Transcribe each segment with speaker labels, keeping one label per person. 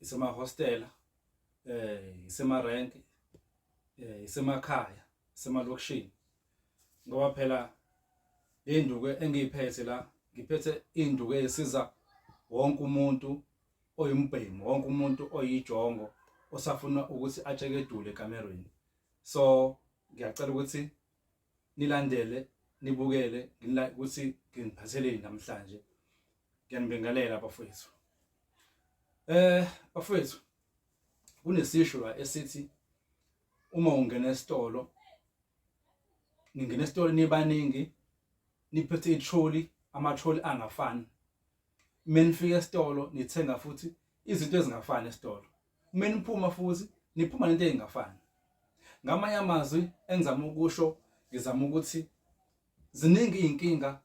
Speaker 1: isemahostela eh isemarenke eh isemakhaya semalokishini ngoba phela induku engiyiphethe la ngiphethe induku esiza wonke umuntu oyimbhemu wonke umuntu oyijongo osafuna ukuthi atshekedule ekamerweni so ngiyacela ukuthi nilandele nibukele ukuthi nginiphatheleni namhlanje ngiyanibingelela abafowethu eh bafowethu kunesisho la esithi uma ungena esitolo ningena esitolo nibaningi niphethe itroli amatroli angafani menifika esitolo nithenga futhi izinto ezingafani esitolo uma niphuma futhi niphuma nento engafani ngamanye amazwi engizama ukusho ngizama ukuthi ziningi izinkinga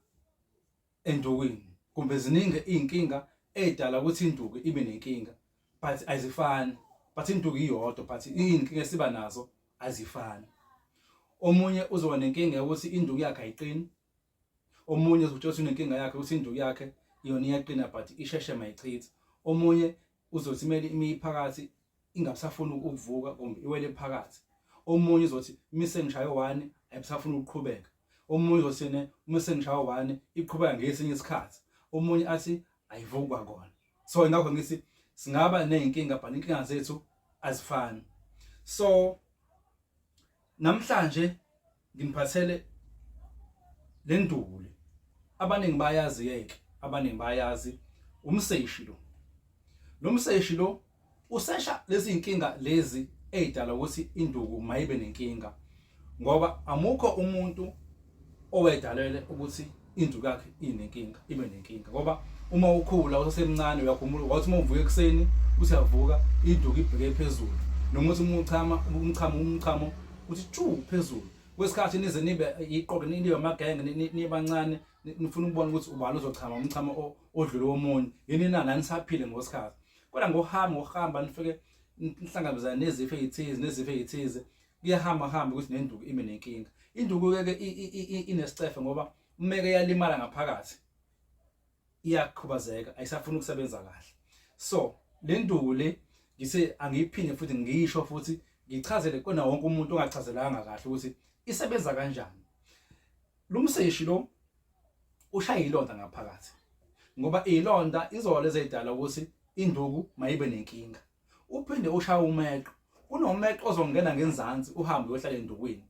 Speaker 1: endukwini kumbe ziningi izinkinga edala ukuthi induku ibe nenkinga but azifani but induku iyodwa but izinkinga esiba nazo azifani omunye uzoba nenkinga yokuthi induku yakhe ayiqini omunye uzokutshela ukuthi unenkinga yakhe ukuthi induku yakhe yona iyaqina but isheshe mayichitha omunye uzothi kumele imiphakathi ingabusafuni ukuvuka kumbe iwele phakathi omunye uzothi uma sengishaye one ayibusafuni ukuqhubeka omunye uzothi ne uma sengishaye one iqhubeka ngesinye isikhathi omunye athi ayivukwa kona so ingakho ngithi singaba nezinkinga but inkinga zethu azifani so namhlanje ngimphathele le nduku le abaningi bayazi yeke abaningi bayazi umseshi lo lo mseshi lo usesha lezi inkinga lezi ezidala ukuthi induku mayibe nenkinga ngoba amukho umuntu owedalele ukuthi indlu yakhe inenkinga ibe nenkinga ngoba uma ukhula usasemncane uyakhumbula wathi uma uvuka ekuseni uthi avuka induku ibheke phezulu noma uthi uma uchama umchamo umchamo uthi chu phezulu kwesikhathi nize nibe iqoqe nibe amagenge nibancane nifuna ukubona ukuthi ubani ozochama umchamo odlule womunye yini na nanisaphile ngosikhathi kodwa ngohamba ngohamba nifike nihlangabezana nezifo ezithize nezifo ezithize kuyahamba hamba ukuthi nenduku ibe nenkinga induku ke inesicefe ngoba umeke yalimala ngaphakathi iyakhubazeka ayisafuni ukusebenza kahle so le nduku le ngise angiyiphinde futhi ngiyisho futhi ngichazele kona wonke umuntu ongachazelanga kahle ukuthi isebenza kanjani lo mseshi lo ushaya ilonda ngaphakathi ngoba ilonda izolo ezedala ukuthi induku mayibe nenkinga uphinde ushaya umeqo kunomeqo ozongena ngenzansi uhambe uyohlala endukwini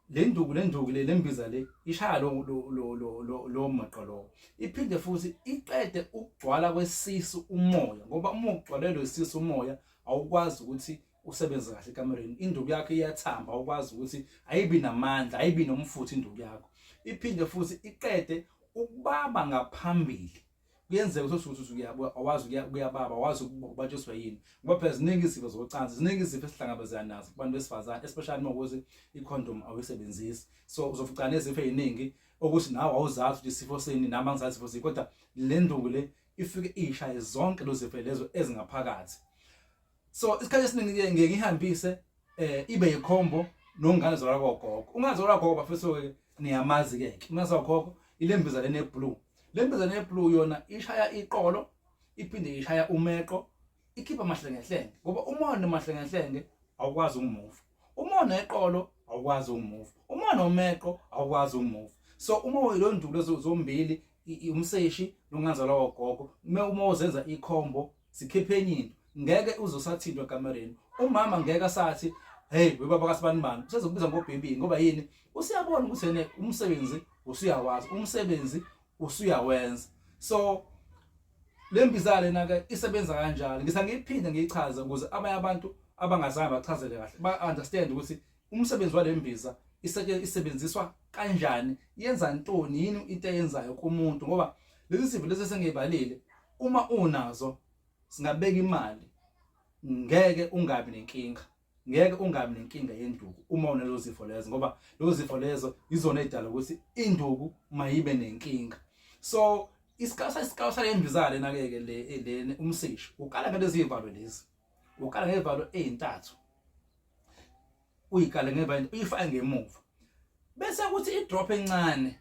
Speaker 1: le nduku le nduku le lembiza le ishaya lo lo lo lo maqo lo iphinde futhi iqede ukugcwala kwesisu umoya ngoba uma ugcwalelwe isisu umoya awukwazi ukuthi usebenze kahle ekamereni induku yakho iyathamba awukwazi ukuthi ayibi namandla ayibi nomfutho induku yakho iphinde futhi iqede ukubaba ngaphambili kuyenzeka ukuthi usuthi usukuyabuya awazi ukuyababa awazi ukubatshiswa yini ngoba phela ziningi izifo zocansi ziningi izifo esihlangabezana nazo kubantu besifazane especially uma ukuthi i-condom awuyisebenzisi so uzofucana nezifo eziningi okuthi nawe awuzazi ukuthi isifo sini nami angizazi isifo sini kodwa le nduku le ifike iyishaye zonke lozifo lezo ezingaphakathi so isikhathi esiningi ke ngeke ngihambise eh ibe yikhombo nongane zolwa kogogo ungazola gogo bafethu ke niyamazi ke ungazola gogo ilembiza lene blue lembiza lene blue yona ishaya iqolo iphinde ishaya umeqo ikhipha amahlengehlenge ngoba umona amahlengehlenge awukwazi ukumuva umona eqolo awukwazi ukumuva umona omeqo awukwazi ukumuva so uma uyilondulo zombili umseshi nongazalwa wogogo uma uma uzenza ikhombo sikhiphe enye into ngeke uzosathintwa kamereni umama ngeke asathi hey webaba kasibanibani usezokubiza ngobhebi ngoba yini usiyabona ukuthi ene umsebenzi usuyawazi umsebenzi usuyawenza so lembiza lena ke isebenza kanjalo ngisa ngiyiphinde ngiyichaze ukuze abanye abantu abangazange bachazele kahle ba understand ukuthi umsebenzi wale mbiza iseke isebenziswa kanjani yenza ntoni yini into eyenzayo kumuntu ngoba lezi zifo lezi sengibalile uma unazo singabeka imali ngeke ungabi nenkinga ngeke ungabi nenkinga yenduku uma unalezo zifo lezo ngoba lezo zifo lezo yizona edala ukuthi induku mayibe nenkinga so isikasa isikasa yembizale nakeke le le umsisho ukala ngalezi ivalo lezi ukala ngevalo ezintathu uyikale ngevalo uyifake ngemuva bese kuthi idrop encane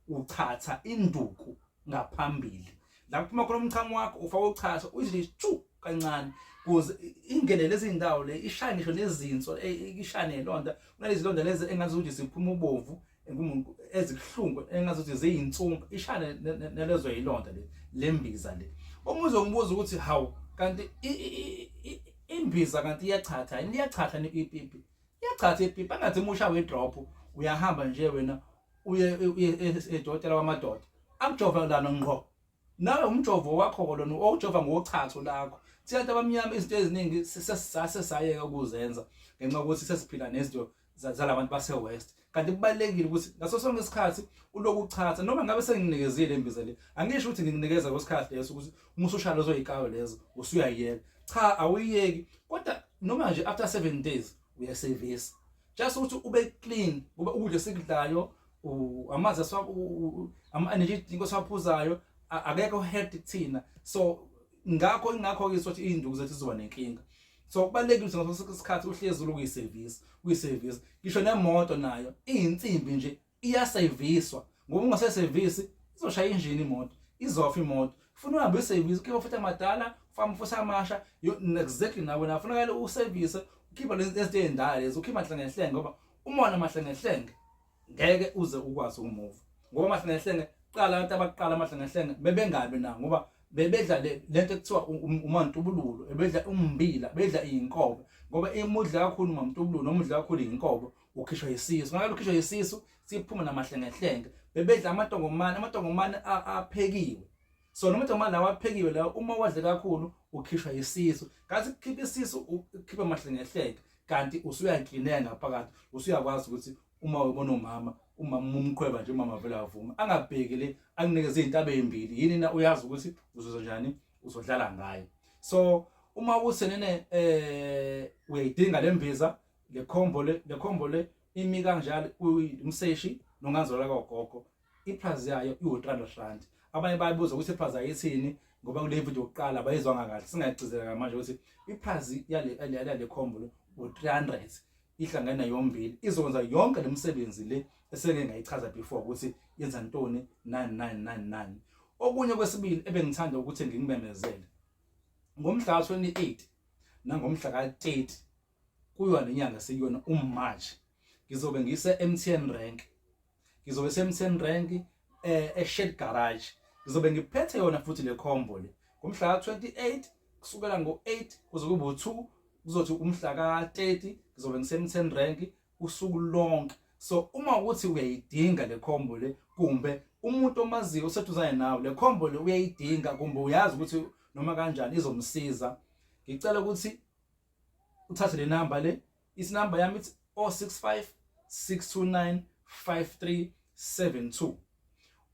Speaker 1: uchatha induku ngaphambili la kuphuma khona umchamo wakho ufaka uchatha uyizile chu kancane kuze ingene lezi ndawo le ishane ngisho nezinso ishane londa kunalezi londa lezi engathi ukuthi siphuma ubovu engumuntu ezibuhlungu engazothi ziyintsumpa ishane nelezo yilonda le lembiza le umuze umbuza ukuthi hawu kanti imbiza kanti iyachatha yini iyachatha ipipi iyachatha ipipi angathi musha we drop uyahamba nje wena uye edokotela wamadoda akujova lana ngqo Nawe umjovo wakho lona owujova ngochatho lakho. Thina abantu abamnyama izinto eziningi sesisase sayeka ukuzenza ngenxa yokuthi sesiphila nezinto zalabantu base-west kanti kubalulekile ukuthi ngaso sonke isikhathi uloku uchatha noma ngabe senginikezile imbiza le angisho ukuthi ngikunikeza kwesikhathi leso ukuthi uma usushaya lezo yikayo lezo usuyayiyeka cha awuyiyeki kodwa noma nje after seven days uyasevisa just ukuthi ube clean ngoba ukudla sikudlayo amanzi aswa ama energy drink osaphuzayo akekho healthy thina so ngakho ingakho ke sothi izinduku zethu zizoba nenkinga so kubalekile ngaso isikhathi uhlezi uyiservice uyiservice ngisho nemoto nayo izinsimbi nje iyaseviswa ngoba ungasesevisi izoshaya injini imoto izofa imoto funa uhambe usevise ukhipha futhi amadala ufama futhi amasha exactly nawe na funakele usevise ukhipha lezi zinto ezindala lezi ukhipha mahlengehlenge ngoba umona mahlengehlenge ngeke uze ukwazi ukumuva ngoba mahlengehlenge qala abantu abaqala amahlengehlenge bebengabi na ngoba bebedla lento ekuthiwa umantubululo ebedla umbila bedla inkobe ngoba imudla kakhulu umantubululo nomudla kakhulu inkobe ukhishwa yisisu ngalo ukhishwa yisisu siphuma namahlengehlenge bebedla amatongomane amatongomane aphekiwe so noma amatongomane lawa aphekiwe lawo uma wadle kakhulu ukhishwa yisisu kathi khipha isisu ukhipha amahlengehlenge kanti usuyaklineka ngaphakathi usuyakwazi ukuthi uma ubona umama umama umqhweba nje umama vele avuma angabheki le akunikeze izintabe ezimbili yini na uyazi ukuthi uzozo njani uzodlala ngayo so uma usenene eh uyayidinga lembiza le combo le le combo le imi kanjalo umseshi nonganzwala kagogo iprice yayo iwu-300 rand abanye bayibuza ukuthi iprice ayithini ngoba kule video yokuqala bayizwanga kahle singayicizela manje ukuthi iprice yale yale combo le u-300 ihlangene yombili izokwenza yonke le msebenzi le eseke ngayichaza before ukuthi yenza ntoni 9999 okunye kwesibili ebengithanda ukuthi ngikubemezele ngomhla ka-28 nangomhla ka-30 kuyo le nyanga sikuyona uMarch ngizobe ngise MTN rank ngizobe se MTN rank eh eShed garage ngizobe ngiphethe yona futhi le combo le ngomhla ka28 kusukela ngo8 kuze kube u2 kuzothi umhla ka30 ngizobe ngise MTN rank usuku lonke so uma ukuthi uyayidinga le combo le kumbe umuntu omaziyo oseduzane nawe le combo le uyayidinga kumbe uyazi ukuthi noma kanjani izomsiza ngicela ukuthi uthathe le number le isi number yami ithi 065 629 5372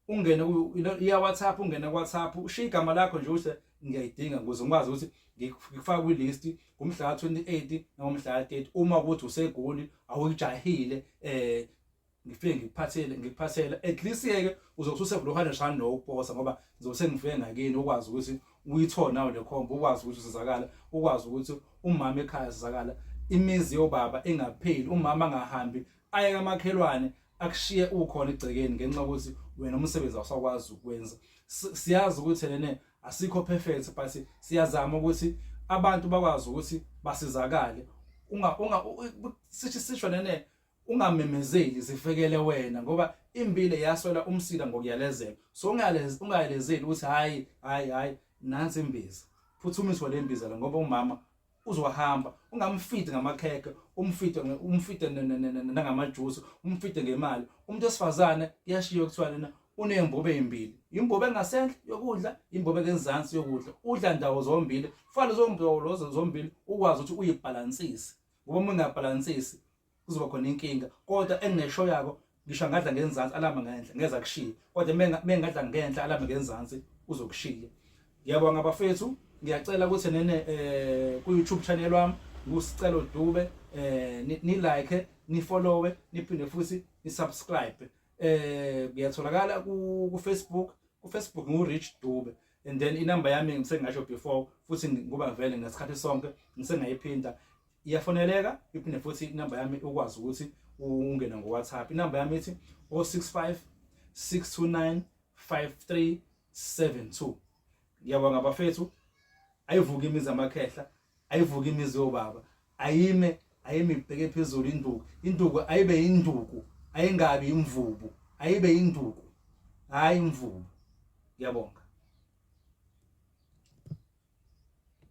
Speaker 1: ungene iya WhatsApp ungene WhatsApp ushiya igama lakho nje uthi ngiyayidinga ukuze ngikwazi ukuthi ngikufaka kwi list ngomhla 28 noma umhla 30 uma ukuthi usegoli awuyijahile eh ngifike ngikuphathele ngikuphathela at least yeke uzokuthi usevuluhane shani no ukuposa ngoba ngizobe sengifike ngakini ukwazi ukuthi uyithole nawe le khombo ukwazi ukuthi usizakala ukwazi ukuthi umama ekhaya sizakala imizi yobaba engapheli umama angahambi aye kamakhelwane akushiye ukhona igcekeni ngenxa ukuthi wena umsebenzi awusakwazi ukwenza siyazi ukuthi nene asikho perfect but siyazama ukuthi abantu bakwazi ukuthi basizakale unga unga sithi sisho nene ungamemezeli zifekele wena ngoba impilo yaswela umsila ngokuyalezela so ungayalezeli ukuthi hayi hayi hayi nansi imbiza phuthumiswa le mbiza la ngoba umama uzohamba ungamfidi ngamakhekhe umfide umfide nangamajuice umfide ngemali umuntu esifazane kuyashiya kuthiwa lena unembobe ezimbili imbobe engasenhle yokudla imbobe ngenzansi yokudla udla ndawo zombili kufanele zombili zombili ukwazi ukuthi uyibhalansise ngoba uma ngingabhalansisi kuzoba khona inkinga kodwa enginesho yako ngisho angadla ngenzansi alama ngenhla ngeza kushiya kodwa mengadla ngenhla alama ngenzansi uzokushiya ngiyabonga bafethu ngiyacela ukuthi nene eh ku YouTube channel wami ngusicelo dube eh ni like ni follow niphinde futhi ni subscribe eh ngiyatholakala ku Facebook ku Facebook ngu Rich Dube and then inamba yami ngisengasho before futhi ngoba vele ngesikhathi sonke ngisengayiphinda iyafoneleka iphinde futhi inamba yami ukwazi ukuthi ungene ngoWhatsApp inamba yami ithi 065 629 5372 ngiyabonga bafethu ayivuki imizi amakhehla ayivuke imizi yobaba ayime ayime ibheke phezulu induku induku ayibe induku ayingabi imvubu ayibe induku hayi imvubu ngiyabonga